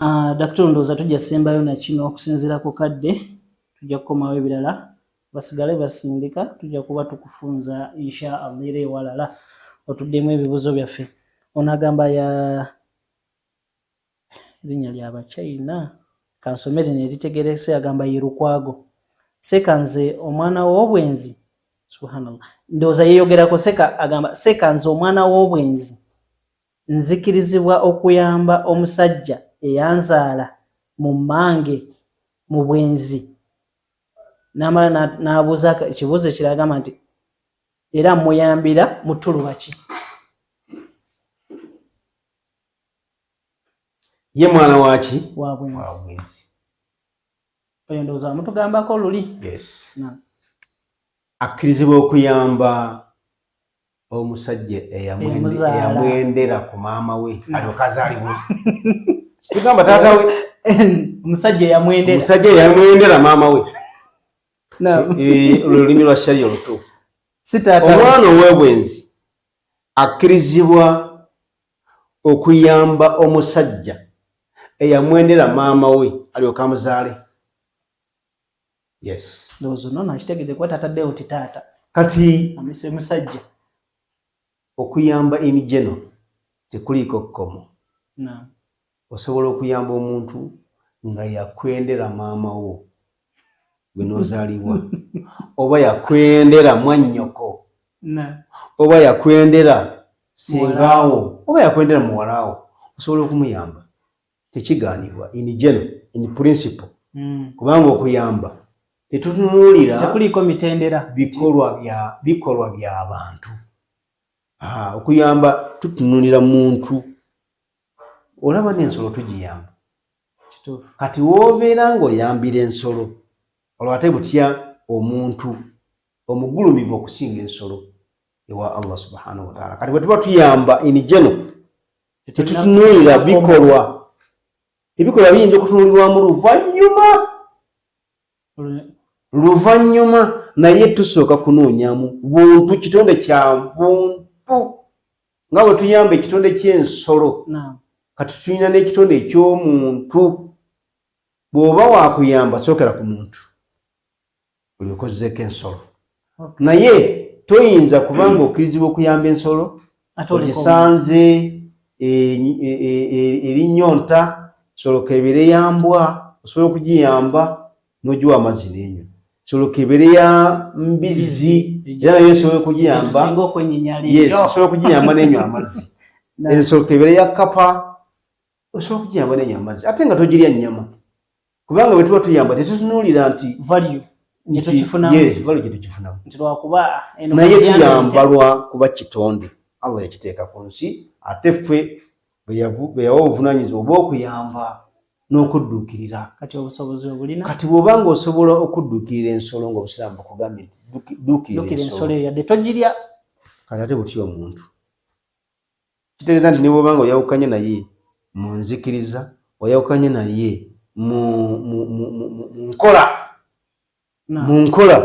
Ah, Daktari ndowooza tujja sembayo na kino okusinziira ku kadde tujja kukomawo ebirala basigale basindika tujja kuba tukufunza insha allah era ewalala otuddemu ebibuzo byaffe ono agamba ya erinnya lya bachina kansome lino eritegerese agamba ye lukwago seka nze omwana w'obwenzi subhanallah ndowooza yeyogerako seka agamba seka nze omwana w'obwenzi Nzikirizibwa okuyamba omusajja eyanzaala mu mmange mu bwenzi? N'amala n'abuuza ekibuuzo ekirala agamba nti, Era mmuyambira mu ttuluba ki? Ye mwana waaki? Wa bwenzi. Oyo ndowooza wamutugambako luli. Yes. Akkirizibwa okuyamba omusajja eyamwendera ku maama we mm. alyoke azaalibwe kigamba taata we omusajja eyamwendera maama we olulimi lwa shariya olutuufu omwana ow'obwenzi akkirizibwa okuyamba omusajja eyamwendera maama we alyoke amuzaale Yes. Ndozo nono akitegede kwa tata deo ti tata. Kati. Amise musajja. Okuyamba in general. Tekuliko komo. Na. Osobola okuyamba omuntu nga yakwendera maama wo. Gwenozaliwa. Oba yakwendera mwanyoko. Na. Oba yakwendera singawo. Oba yakwendera muwalawo. Osobola okumuyamba. tekigaanibwa in general in principle mm. kubanga okuyamba tetutunuulira tekuliiko mitendera bikolwa bya bikolwa bya bantu ah, okuyamba tutunuulira muntu olaba n'ensolo tugiyamba kati woobeera ng'oyambira ensolo olwo ate butya omuntu omugulumivu okusinga ensolo ewa allah subhanahu wataala kati bwe tuba tuyamba in general tetutunuulira bikolwa ebikolwa biyinza okutunuulirwamu luvannyuma luvannyuma naye tusooka kunoonyamu buntu kitonde kya buntu nga bwe tuyamba ekitonde ky'ensolo kati tulina n'ekitonde eky'omuntu bw'oba wakuyamba sookera ku muntu buli okozzeko ensolo naye toyinza kubanga okkirizibwa okuyamba ensolo ogisanze erinyonta e, e, e, soloka ebeere ya mbwa osobola okugiyamba nogiwa amazzi nenyo soloka ebeere ya mbizzi era naye osobola okugiyamba osobola okugiyamba nenyo amazzi ensoloka ebeere ya kapa osobola okugiyamba nenyo amazzi ate nga togirya nyama kubanga bwe tuba tuyamba tetutunuulira nti valiyo naye tuyamba lwa kuba kitonde allah yakiteeka ku nsi ate ffe bwe yawa obuvunanyizibwa obw'okuyamba n'okudduukirira kati obusobozi obulina kati bw'oba nga osobola okudduukirira ensolo ng'obusiraamu bakugambye dduukirira ensolo yadde togirya kati ate butya omuntu Kitegeeza nti ne bw'oba nga oyawukanye naye mu nzikiriza, oyawukanye naye mu nkola, mu nkola,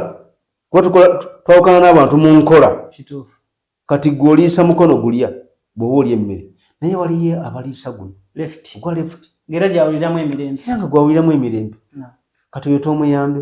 kuba tukola twawukana n'abantu mu nkola. Kituufu. Kati gwe oliisa mukono gulya bw'oba olya emmere, naye waliyo abaliisa guno ogwa lefuti, era nga gwawuliramu emirembe. Kati oyo tomuyambe.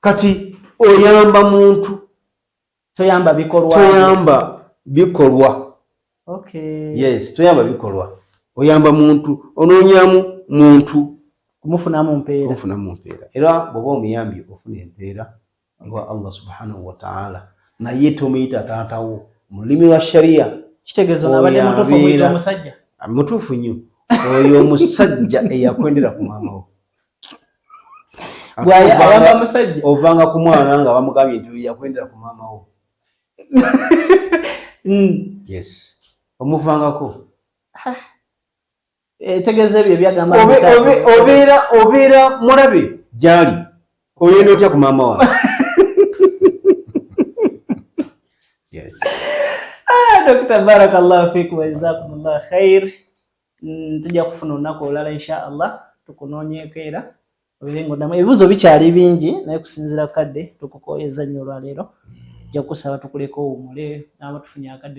kati oyamba muntu toyamba bikolwa toyamba bikolwa okay yes toyamba bikolwa oyamba muntu ononyamu muntu kumufunamu mpeera kumufunamu mpeera era bwoba omuyambi ofuna empeera ewa allah subhanahu wataala naye tomuyita taatawo mu lulimi lwa sharia kitegezo nabadde mutuufu omuyita omusajja mutuufu nnyo oyo omusajja eyakwendera ku maamawo bwayamba musajja ovanga ku mwana nga bamugambye nti yakwendera ku maama wo mm. yes omuvangako ah. etegeeza ebyo ebyagamba obeera obeera mulabe gyali oyenda otya ku maama wa yes ah, dokita barakallahu fikum wajazakumullah khair mm, tujja kufuna olunaku olulala insha allah tukunoonyeeko era obeere ngaoddamu ebibuuzo bikyali bingi naye kusinziira kadde tukukooyezza nnyo olwaleero ojja kukusaba tukuleka owumule naaba tufunye akadde